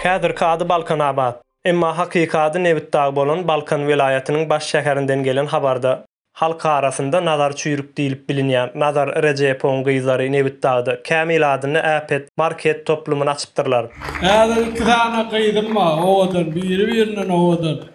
Häzirki ady Balkanabat, emma hakyky ady Nebitdag bolan Balkan welaýatynyň baş şäherinden gelen habarda, Halk arasynda Nazar Çüýrük diýlip bilinýän Nazar Rejepowyň gyzlary Nebitdagda Kämil adynda äpet market toplumyny açypdyrlar. Häzir iki sany gyzym bar, owadan, biri-birinden owadan.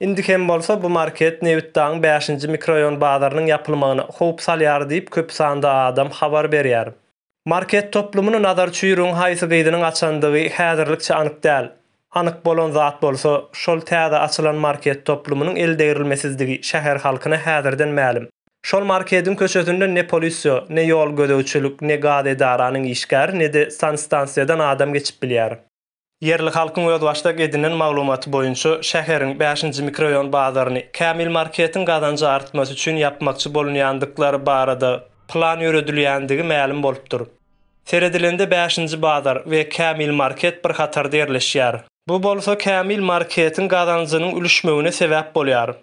Indi hem bolsa bu market Nebitdagyň bäşinji mikroraýon bazarynyň ýapylmagyna howp salýar diýip, köp sanda adam habar berýär. Market toplumyny Nazar Çuýrugyň haýsy gyzynyň açandygy häzirlikçe anyk däl. Anyk bolan zat bolsa, şol täze açylan market toplumynyň eldegrilmesizdigi şäher halkyna häzirden mälim. Şol markediň köçesinde ne polisýo, ne ýol gözegçilik, ne gaz edaranyň işgäri, ne-de sanstansiýadan adam geçip bilýär. Ýerli halkyň özbaşdak edinen maglumaty boýunça, şäheriň bäşinji mikroraýon bazaryny Kämil marketiň gazanjy artmasy üçin ýapmakçy bolunýandyklary barada plan ýöredilýändigi mälim bolupdyr. Seredilende bäşinji bazar we Kämil market bir hatarda ýerleşýär. Bu bolsa Kämil marketiň gazanjynyň ülüşmegine sebäp bolýar.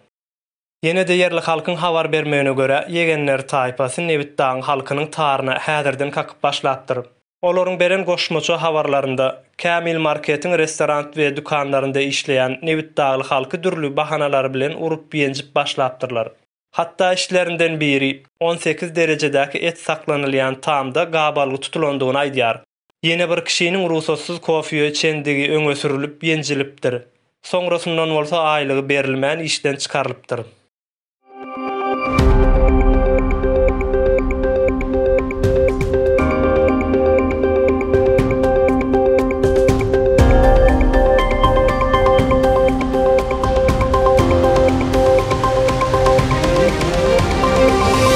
Ýene-de ýerli halkyň habar bermegine görä, ýegenler taýpasy Nebitdagyň halkynyň taryna häzirden kakyp başlapdyr. Olaryň beren goşmaça habarlarynda, Kämil marketiň restorant we dükanlarynda işleýän nebitdagly halky dürli bahanalary bilen urup-ýenjip başlapdyrlar. Hatda içlerinden biri, on sekiz derejedäki et saklanylýan tamda gabalgy tutulandygyny aýdýar. Ýene bir kişiniň rugsatsyz kofýa içendigi öňe sürülip ýenjilipdir. Soňrasyndan bolsa aýlygy berilmän işden çykarylypdyr.